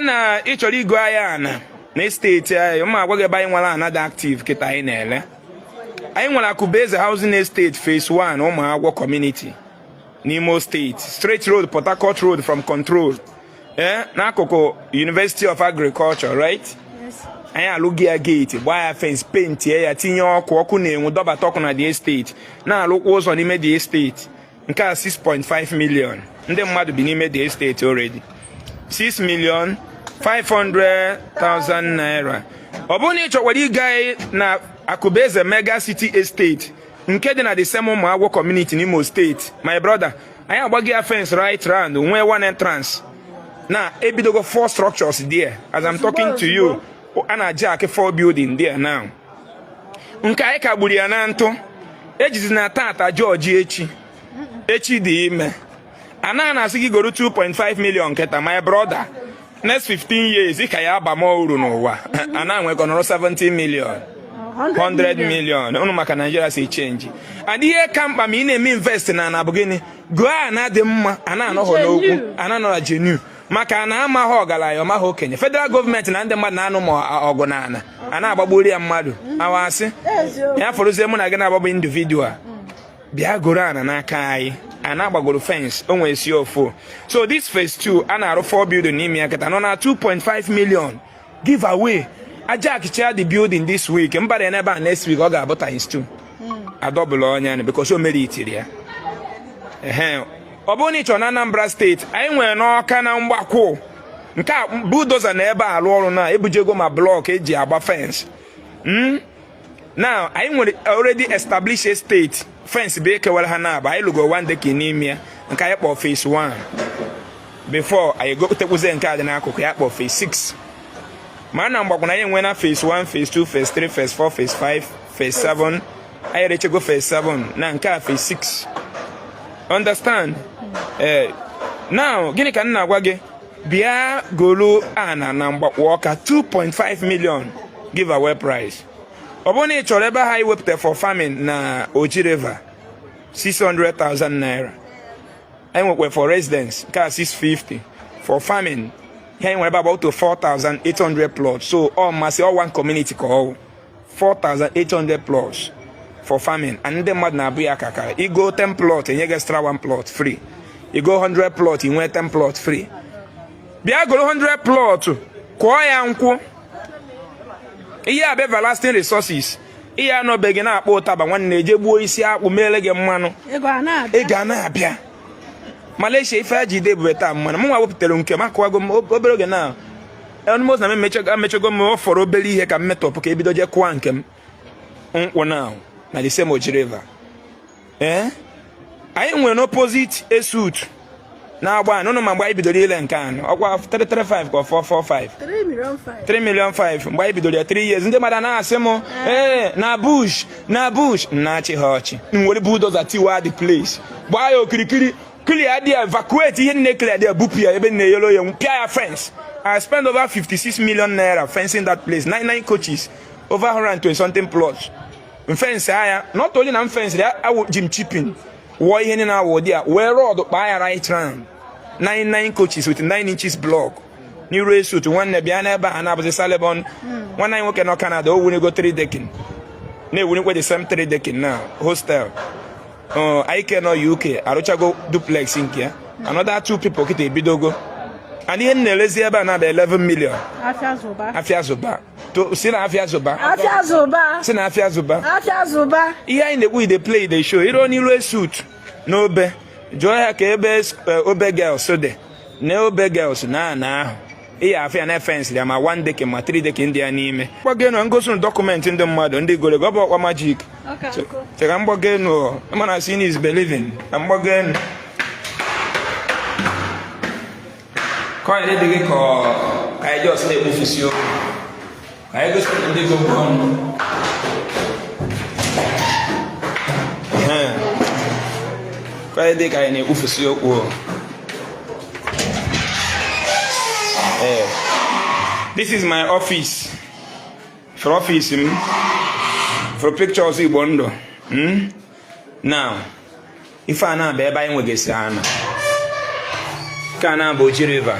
na ị chọrọ igo ahịa ana na estate anyị m agwa gị ebe anyị nwere ana dị active kịta anyị na-ele anyị nwere Akụbeze housing estate phase 1 Ụmụagwọ community n'Imo steeti straight road port harcourt road from control ee eh, n'akụkụ university of agriculture right anyị alụgo ya gate gbaa ya fence pentie ya tinye ọkụ ọkụ na-enwu dọbata ọkụ na the estate na-alụkwa ụzọ n'ime the estate nke a 6.5 million ndị mmadụ bi n'ime the estate already 6 million 500,000 naira ọ bụrụ na ị chọkwara ịga na Akụbeze mega city estate nke dị na the same Ụmụagwọ community n'Imo steeti my brother anyị agbago ya fence right round nwee one entrance na ebidogo four structures there as I'm talking to you a na-ajack four building there now nke anyị kagburu ya na ntụ ejizina tata judge echi echi dị ime ana a na-asị gị goro 2.5 million nketa my brother next 15 years ị ka ya aba m uru n'ụwa ana a nwee ike ọ nọrọ 70 million 100 million ụnụ ma ka Nigeria si change and ihe ka mkpa ma ị na-eme invest na ana bụ gịnị goo ana dị mma ana anọghọ n'okwu ana anọghọ genuine maka ana amaghị ọgaranya ọ maghị okenye federal gọọmenti na ndị mmadụ na-anụ ma ọgụ na ana a na-agbagburu ya mmadụ awasị ya fọrọzie mụ na gị na-agbagbu individual bịa goro ana n'aka anyị ana a gbagoro fence o nwee C of O so this phase 2 a na-arụ 4 building n'ime ya kịta nọ na 2.5 million giveaway a jackchaa the building this week m bara n'ebe a next week ọ ga-abụ times two hmm. a double ọnụ ya because of material ọ bụrụ na ị chọrọ na Anambra steeti anyị nwere n'Ọka na Mgbakwụ nke a bulldozer nọ ebe a alụ ọrụ na ebujego ma block eji agba fence hmm? now anyị nwere already established estate fence bụ ihe kewara ha naabọ anyị lụgo one deck n'ime ya nke anyị kpọọ phase 1 before anyị gotekwuzie nke a dị n'akụkụ ya kpọọ phase 6 ma na Mgbakwụ na anyị enwena phase 1 phase 2 phase 3 phase 4 phase 5 phase 7 anyị rechego phase 7 na nke a phase 6 understand ee eh, now gịnị ka m na-agwa gị bịa golu ana na Mgbakwụ Ọka 2.5 million giveaway price ọ bụrụ na ị chọrọ ebe anyị wepụta for farming na Oji River 600,000 naira anyị nwekwa for residence nke a 650 for farming ihe anyị nwere ebe about 4,800 plots so almost ọ one community ka ọ wụ 4,800 plots for farming and ndị mmadụ na-abuy ya ka akara i goo 10 plot e nye gị extra 1 plot free i goo 100 plot i nwee 10 plot free bịa goro 100 plot kụọ ya nkwụ ihe a bụ everlasting resources ị ya-anọ be gị na-akpọ ụtaba nwanne e jee gbuo isi akwụ meele gị mmanụ ego a na-abịa Malaysia ife e ji ide ebube taa mmanụ mụ nwa wepụtara nke m akụwago m obere oge na almost na emechego m fọrọ obere ihe ka m metọpụ ka e bido jee kụwa nke m nkwụ na na the same Oji River ee eh? anyị nwere n'opposite ESUT na Agbani ma mgbe anyị bidoro ile nke anụ ọkwa 335 ka 445 3 million 5 mgbe anyị bidoro ya 3 years ndị mmadụ na-asị m eh. ee eh, na bush na bush na-achị ha ọchị m were bulldozer tiwa the place gbaa ya okirikiri clear there evacuate ihe niine clear there bupụ ya ebe niine yelo ya pịa ya fence I spent over 56 million naira fencing that place nine nine coaches over 120 something plots m fensịa ya not only na m fensịa ya awụ ji m chipping wụọ ihe niile awụ dị ya wee rod kpaa ya right round nine nine coaches with nine inches block n'iru ESUT nwanne bịa n'ebe a na-abụzi salibon hmm. nwanne anyị nwoke nọ Canada o wunego 3 decking na-ewunikwe the same 3 decking na hostel uh, onye ke nọ UK arụchago duplex nke ya another two people kịta ebidogo and ihe m na-elezi ebe a na-ada 11 million afịa zụba afịa zụba To- si na afịa zụba afịa zụba si na afịa zụba afịa zụba ihe anyị na-ekwu e dey play dey show iro n'iru ESUT n'Obe jụọ ya ka ebe s- eh, Obe Girls dị na Obe Girls na ana ahụ ị ya-afụ ya na fence ya ma one decking ma three decking dị ya n'ime m gbago enu m gosi unu document ndị mmadụ ndị gorogo ọ bụrọkwa magic chee ka m gbago enu mana seeing is believing na m gbago enu ka ọ yara dị gị ka ka anyị just na-ekwufusi okwu Ka anyị gosipụta ndị gị ụgwọ ọnụ. Ka ọ yara dị ka anyị na-ekwufusi okwu o. Ee. This is my office. Fụrụ office m. Fụrụ pictures Igbo ndụ. Hmm? Now, ife a na-abụ ebe anyị nwegasị ana. Nke a na-abụ Oji River.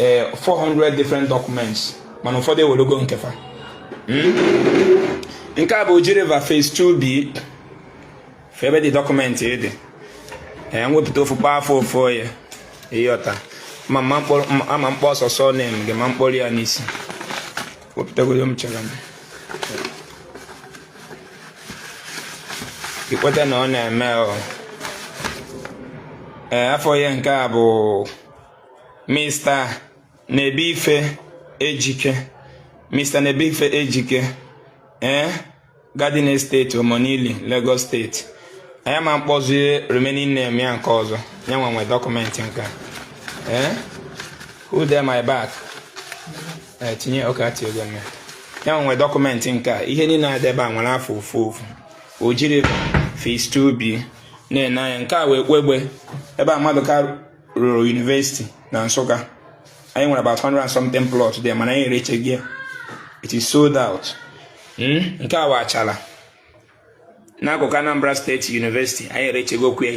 ee 400 different documents mana ụfọdụ ewelogo nke fa hmm? nke a bụ Oji River phase 2B fụ ebe the document dị ee m wepụta ofu kpọọ afa ofu onye ị yọta ama m kpa ọsọsọ na-eme gị ma m kpọrọ ya n'isi wepụtagodo m chere m i kweta na ọ na-eme ee afa ya nke a bụ Mr. Nebeife Ejike Mr. Nebeife Ejike ee eh, Garden Estate Omonili Lagos State anyị ama akpọzi remaining name ya nke ọzọ ya nwa nwe document nke ee eh, who dey my back eh, tinye ọka tiego mme ya nwe document nke a ihe niile a dị ebe a nwere afa ofu ofu o jiri phase 2B na-ene anya nke a wụ Ekwegbe ebe a Maduka rụrụ university na Nsụka anyị nwere about 100 and something plot there mana anyị erechago ya it is sold out hmm? nke a bụ Achalla n'akụkụ Anambra State University anyị erechagokwu ya